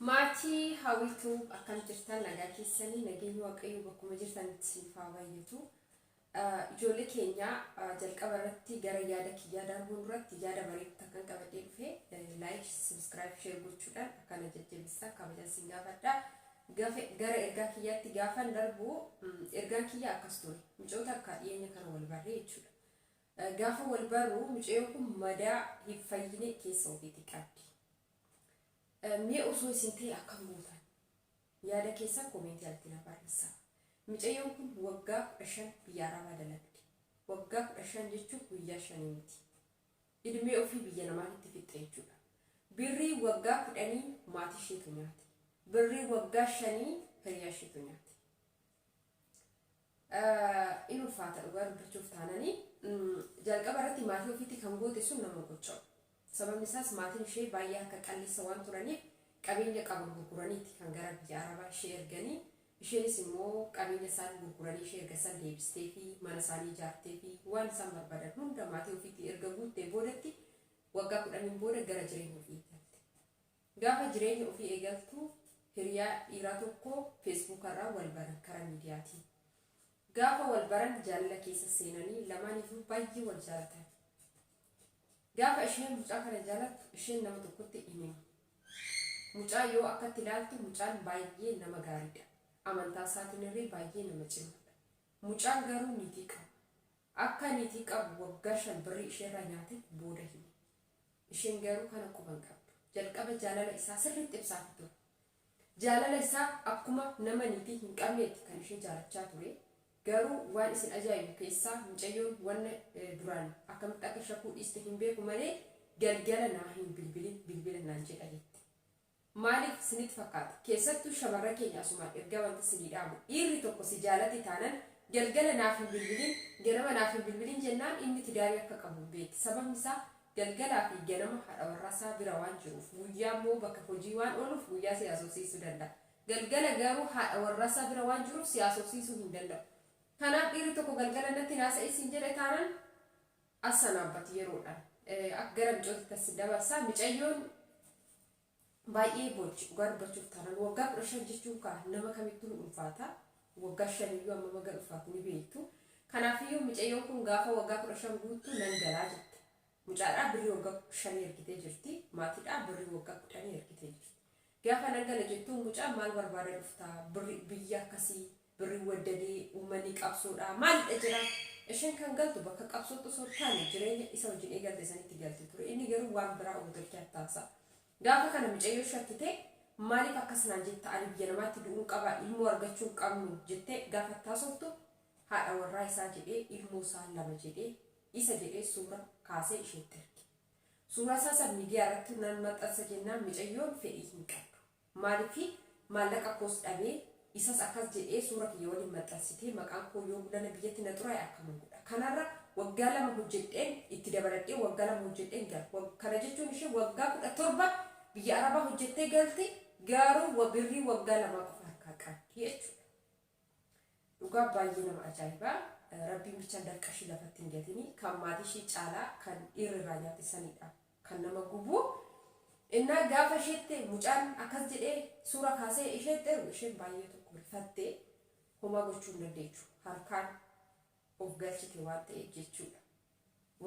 Maatii Hawwii Tube akkam jirtan nagaa keessanii nageenyi waaqayyoo bakkuma jirtanitti isiniif haa baay'atu. Ijoollee keenya jalqaba irratti gara yaada kiyyaa darbuun duratti yaada bareedu takkan qabadhee dhufe like subscribe share gochuudhaan akkana jajjabeessaa kabajan sin gaafadha. Gara ergaa kiyyaatti gaafan darbu ergaan kiyya akkas ture micoota akka dhiyeenya kana wal barree jechuudha. Gaafa wal barru mucayyoo kun madaa hin fayyine keessa ofiitii qabdi. Mee osoo isin ta'e akkam gootan? Yaada keessan comment jalatti naa barreessaa. Micayyoon kun waggaa 15 biyya Arabaa dalagde. Waggaa 15 jechuun guyyaa shanii miti. Idmee ofii biyya namaatitti fixxe jechuudha. Birrii waggaa kudhanii maatii isheetu nyaate. Birrii waggaa shanii hiriyaa isheetu nyaate. in ulfaata dhugaa dubbachuuf taanani jalqaba irratti maatii ofiitti kan goote sun nama gocha'u sababni isaas maatiin ishee baay'ee harka qalleessa waan turaniif qabeenya qaban gurguraniiti kan gara biyya arabaa ishee erganii isheenis immoo qabeenya isaan gurguranii ishee erga san deebistee fi mana isaanii ijaartee fi waan isaan barbaadan hunda maatii ofiitti erga guuttee boodatti waggaa kudhaniin booda gara jireenya ofiitti hafte. Gaafa jireenya ofii eegaltu hiriyaa dhiiraa tokko feesbuukarraa wal baran karaa miidiyaatiin. Gaafa wal baran jaalala keessa seenanii lamaaniyyuu baay'ee wal jaalatan. Gaafa isheen mucaa kana jaalattu isheen nama tokkotti hin himu. Mucaa yoo akkatti ilaaltu mucaan baay'ee nama gaariidha. Amantaasaatiinirree baay'ee nama cimaadha. Mucaan garuu niitii qaba. Akka niitii qabu waggaa shan birrii isheerraa nyaate booda hime. Isheen garuu kana quba hin qabdu. Jalqaba jaalala isaa sirriitti ibsaafi ture. Jaalala isaa akkuma nama niitii hin qabneeti kan ishee jaalachaa ture. Garuu waan isin ajaa'ibu keessaa mucayyoon wanna duraan akkamitti akka shakkuu dhiiste hin beeku malee galgala naa hin bilbilin bilbila naan jedha jette. Maaliif sinit fakkaata? Keessattuu shamarran keenya asumaan ergaa wanti sinii dhaamu dhiirri tokko si jaalate taanan galgala naaf hin bilbilin ganama naaf hin bilbilin jennaan inni tidaarii akka qabu hin beekti sababni isaa galgalaa fi ganama haadha warraa isaa bira waan jiruuf guyyaa immoo bakka hojii waan ooluuf guyyaa si haasofsiisuu danda'a galgala garuu haadha warraa isaa bira waan jiruuf si haasofsiisuu hin danda'u kanaaf dhiirri tokko galgala natti hin haasa'in siin jedhe taanan Assan Abbat yeroodhan Akka gara micootitti assin dabarsa micayyoon baay'ee boochi dhugaa dubbachuuf taanan waggaa 15 jechuun kaa nama kamittuu hin ulfaata waggaa 5 iyyuu ammam haga ulfaatu ni beektu kanaaf iyyuu micayyoon kun gaafa waggaa 15 guuttu nan galaa jette mucaadhaa birrii waggaa 5 ergitee jirti maatiidhaa birrii waggaa 10 ergitee jirti gaafa nan gala jettuun mucaan maal barbaada dhufta birri biyya akkasii Birri waddadi uummanni qabsoodha maalidha jira ishen kan galtu bakka qabsootti osoo hin taane jireenya isa wajjin eegalte sanitti galti ture inni garuu waan biraa ummata keeyaaf taasa gaafa kana micayyoo shakkite maaliif akkas naan jetta ani biyya namaatti du'uun qaba ilmoo argachuu hin qabnu jette gaafa itti haasoftu haadha warraa isaa jedhee ilmoo isaa lama jedhee isa jedhee suura kaasee isheetti erge suuraa isaa san miidiyaa irratti naan maxxansa jennaan micayyoon fedhii hin qabdu Maalifi maallaqa koos dhabee isas akkas jedhee suura kiyya waliin maxxansitee maqaan koo yoo gulana biyyatti na xuraaye akkaman godha kanarra waggaa lama hojjedheen itti dabaladhee waggaa lama hojjedheen gala wag kana jechuun ishee waggaa 17 biyya arabaa hojjettee galti gaaruu wa birrii waggaa lamaa qofa harkaa qabdi jechuudha. Dhugaa baay'ee nama ajaa'iba rabbiin bichaan dafqa ishii lafatti hin gatini kan maatii ishii caalaa kan dhiirri irraa nyaate sanidha kan nama gubu innaa gaafa isheetti mucaan akkas jedhee suura kaasee isheetti ergu isheen baay'ee tokko rifatte homaa gochuu hin dandeechu harkaan of galchite waan ta'eef jechuudha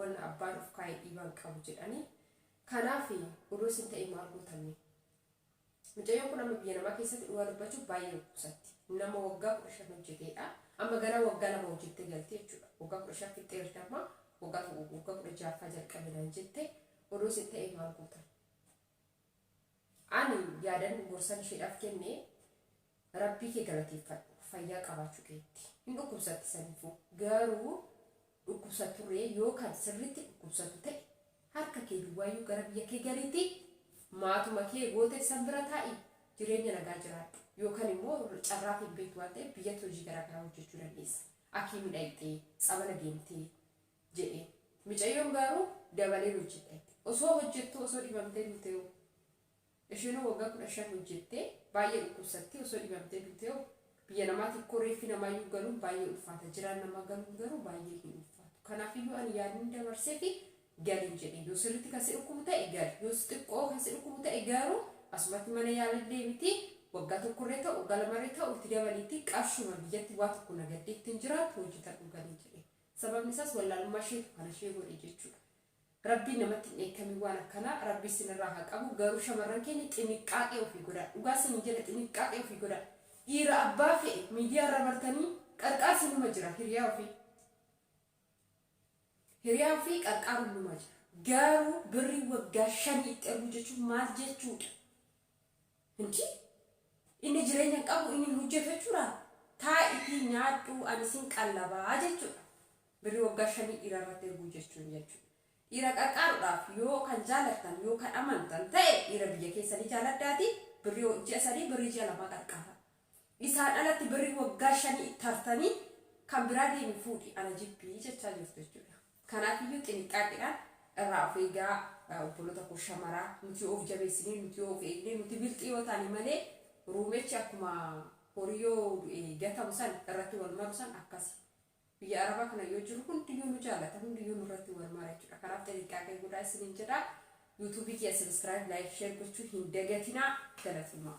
wanna abbaan of kaa'e dhiibaan qabu jedhanii kanaaf odoo isin ta'e maal gootamne Micayyoon kun amma biyya namaa keessatti dhugaa dubbachuuf baay'ee dhukkubsatti. Nama waggaa 15 hojjeteedha. Amma ganaa waggaa lama hojjettee galti jechuudha. Waggaa 15 fixxeerti amma waggaa tokko guutuu waggaa 16ffaa jalqabe naan jette odoo isin ta'ee maal gootan? Ani yaadan gorsan isheedhaaf kenne Rabbii kee galateeffadhu fayyaa qabaachuu keetti. Hin dhukkubsatti saniifuu garuu dhukkubsatturree yoo kan sirriitti dhukkubsatu ta'e harka kee duwwaayyuu gara biyya kee galiitii maatuma kee goote san bira taa'ii jireenya nagaa jiraadhu yookan immoo carraaf hin beektu waan ta'eef biyyatti hojii garaa garaa hojjechuu dandeessa akiimii dhayxee tsabala deemtee jedheen micayyoon gaaruu dabaleen hojjedha jette osoo hojjettuu osoo dhibamtee duutehoo Eshenoo waggaa kudha shan hojjettee baay'ee dhukkubsattee osoo dhibamtee duutee hoo? Biyya namaati ikkoo reeffi namaayyuu galuun baay'ee ulfaata jiraan namaa galuun garuu baay'ee hin ulfaatu kanaafiyyuu ani yaadnin dabarseefi galin jedheen yoo sirritti kan si dhukkubu ta'e gali yoo xiqqoo kan si dhukkubu ta'e garuu asumatti mana yaalaa deemitii waggaa tokkorree ta'u waggaa lamarree ta'u itti dabaliitii qarshiuma biyyatti waa tokko nagaddeettiin jiraattu hojjetadhu galii jedheen sababni isaas wallaalummaa isheetu kana ishee godhe jechuudha Rabbiin namatti hin dheekkamin waan akkanaa rabbi issinirraa haa qabu garuu shamarran keenya xiniqqaaqee ofii godhaa dhugaa isinin jedha xiniqqaaqee ofii godhaa dhiira abbaa fe'e miidiyaa irra martanii qarqaarsi numa jira hiriyaa ofii hiriyaa ofii qarqaaruun numa jira garuu birrii waggaa shanii itti erguu jechuun maal jechuudha hindii inni jireenya hin qabu inni hin hojjetu jechuudha taa'itii nyaadhuu ani sin qallabaa jechuudha Birri waggaa shanii dhiira irratti erguu jechuun jechuu. Dhiira qarqaarudhaaf yoo kan jaalattan yoo kan amantan ta'e dhiira biyya keessanii jaaladhaati birri ji'a sadii birri ji'a lamaa qarqaara. Isaan alatti birri waggaa shanii itti hartanii kan biraa deemi fuudhi ana jibbi jechaa jirtu jechuudha. Kanaaf iyyuu xiniqqaaqidhaan irraa of eegaa obboloota koo shamaraa nuti yoo of jabeessinee nuti yoo of eegnee nuti bilxii yoo taane malee ruumechi akkuma horii yoo du'e gatamu san irratti wal maru san akkasi. Biyya Arabaa kana yoo jirru hundiyyuu nu jaalata, hundiyyuu nurratti wal mara jechuudha. Kanaaf xinixxaaqee godhaa isiniin jedha. YouTube kiyya subscribe, like, share gochuu hin dagatinaa. Galatoomaa.